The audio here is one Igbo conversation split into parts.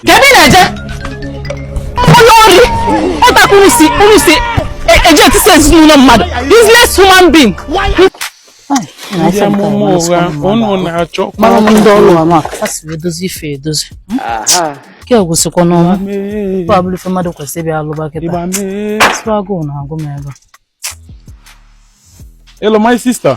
Kee ebe ị na-eje? Onye ori ọ otu a ka unu si ka unu si e- eji etisa ezinụlọ mmadụ useless human being. Ndị amụma ụgha unu na-achọ Mara m ndị ọrụ ama a sị edozi ife edozi. Nke a gwụsịkwa n'ọnwa. Ọ abụrụ ife mmadụ kwesịrị ịbịa alụba kịta. Ịgba mee. Sịkwa agụụ na-agụ m ebe a. Hello, my sister.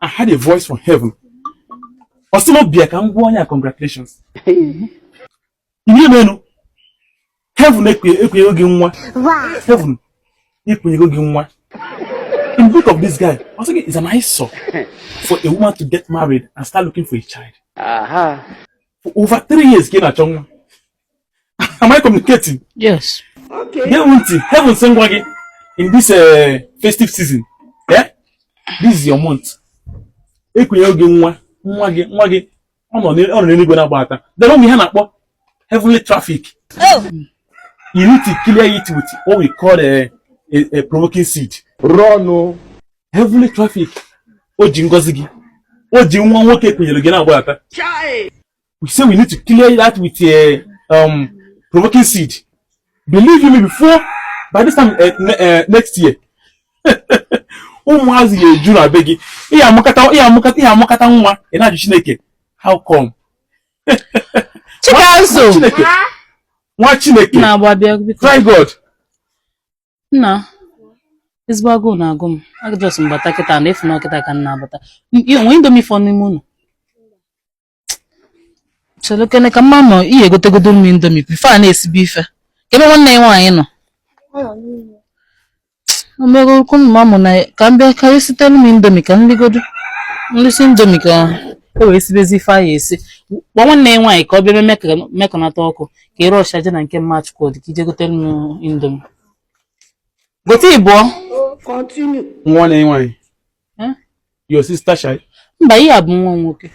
I heard a voice from heaven. Ọ sị m bịa ka m gwa onye a congratulations. Ihe menu. Heaven ekunyego gị nwa. Heaven ekunyego gị nwa. In the book of this guy, I was thinking it's an eyesore for a woman to get married and start looking for a child. Aha. For over three years, ka ị na-achọ nwa. am I communicating? Yes. Okay. Gee ntị, heaven sị m gwa gị in this uh, festive season. Yeah? This is your month. Ekunyego gị nwa, nwa gị, nwa gị, ọ nọ n'eluigwe na-agbadata. E nwere ihe a na-akpọ heavenly traffic. Oh. You need to clear it with what we call a, a, a provoking seed. Run. Oh. Heavenly traffic. O ji ngozi gị. O ji nwa nwoke e kunyere gị na-agbadata. we say we need to clear that with a uh, um, provoking seed. Believe me, before by this time uh, uh, next year, ụmụazị ga-eju na be gị ị ya-amụkata ị ya-amụkata ị ya-amụkata nwa ị na-ajụ Chineke how come? Chikazu Chineke nwaa Chineke try God. Nna ezigbo agụụ na-agụ m a just m bata kịta na ị fụ na ọ kịta ka m na-abata o nwee indomi fọ n'ime ụlọ chelukene ka mma nọ je gotegodu m indomi before a na-esibe ife kee ebe nwanne ya nwaanyị nọ o mego okwu mma mụ na ka m bịa karị sitere m indomi ka m ligodu m lisie indomi ka e wee sibezi ife a ya-esi gwa nwanne ya nwaanyị ka ọ bịa mekọnata ọkụ ka ị rush je na nke mma Chukwudi ka i je gotere m indomi gote ịbụọ nwanne ya nwaanyị your sister shy mba nke a bụ nwa nwoke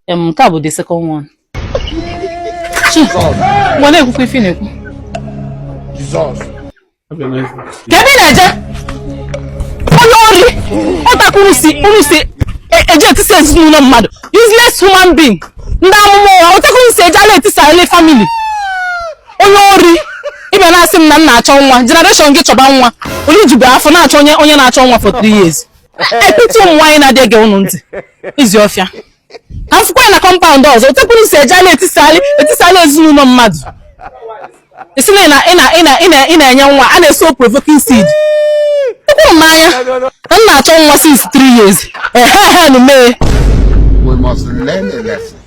m nke a bụ the second one nwa na-ekwukwa ife na-ekwu kee ebe ị na-eje onye ori ọ otu a ka unu si unu si eji etisa ezinụlọ mmadụ useless human being ndị amụma ụgha ọ otu a ka unu si ejegharị etisa family onye ori ị bịa na-asị m na m na-achọ nwa generation gị chọba nwa onye jibu afọ na-achọ onye onye na-achọ nwa for three years I pity ụmụ nwaanyị na-adị ege ụnụ ntị ezi ọfịa ka m fụkwa ya na compound ọzọ otekwuru si eje ala etisali etisali ezinụlọ mmadụ ị sị na ị na- ị na- ị na- ị na- ị na-enye nwa a na-esow provoking seed ekwuru m n'anya na m na-achọ nwa since three years ehe ehe nu mee We must learn a lesson.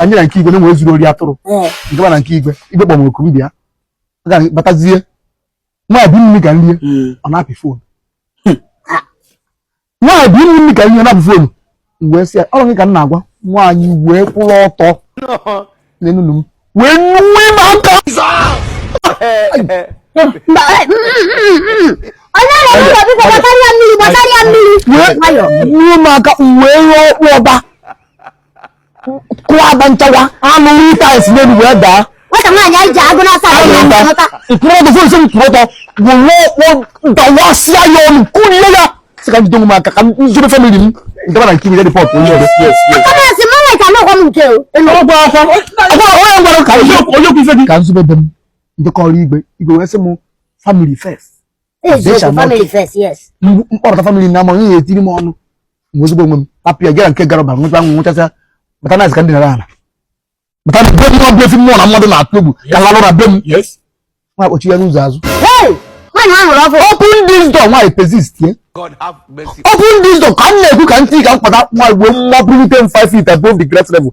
anyị na nke igwe na-enwe zuru ori atụrụ m daba na nke igwe igwe kpọ m oku m bịa batazie nwabi mmiri ka nrie hmm. ọ na-apị fon hmm. nwabi mmiri ka nrie na-apị fon wee sị ya ọ rọ gị ka m na-agwa nwaanyị wee kwụrụ ọtọ n'enunu m wee nwe m aka wee ruo m aka wee rụọ ọkpụ ọba kụwa agba nchawa anụ ite anyị si n'elu wee daa nwata nwaanyị anyị ji agụ n'asa mkpụrụ ọgụ fụrụ isi m kwụrụ ọtọ gwụrụ dawasịa ya ọnụ kụrie ya sị ka m jide onwe m aka ka m jide family m m daba na nke igwe report onye ọrụ kọmọsị mụ nweta n'ụgwọ m nke ọgwụ afọ ọgwụ ahụ onye gwara ka onye okwu ife gị ka nzube be m ndịkọrọ igwe igwe wee sị m family first m kpọrọta family na ama onye ya etiri m ọnụ m ozugbo onwe m apụ ya gara nke gara ba nweta nwa nwechasịa bata na ka ndị nara ala bata na be m ọ bụ ife mmụọ na mmadụ na-atụ egwu ka lalụ na be m nwa kpọchi ya n'ụzọ azụ open this door nwaanyị persist ye open this door ka m na-ekwu ka ntị ka m kpata nwa igbo mmụọ bulite m 5 feet above the ground level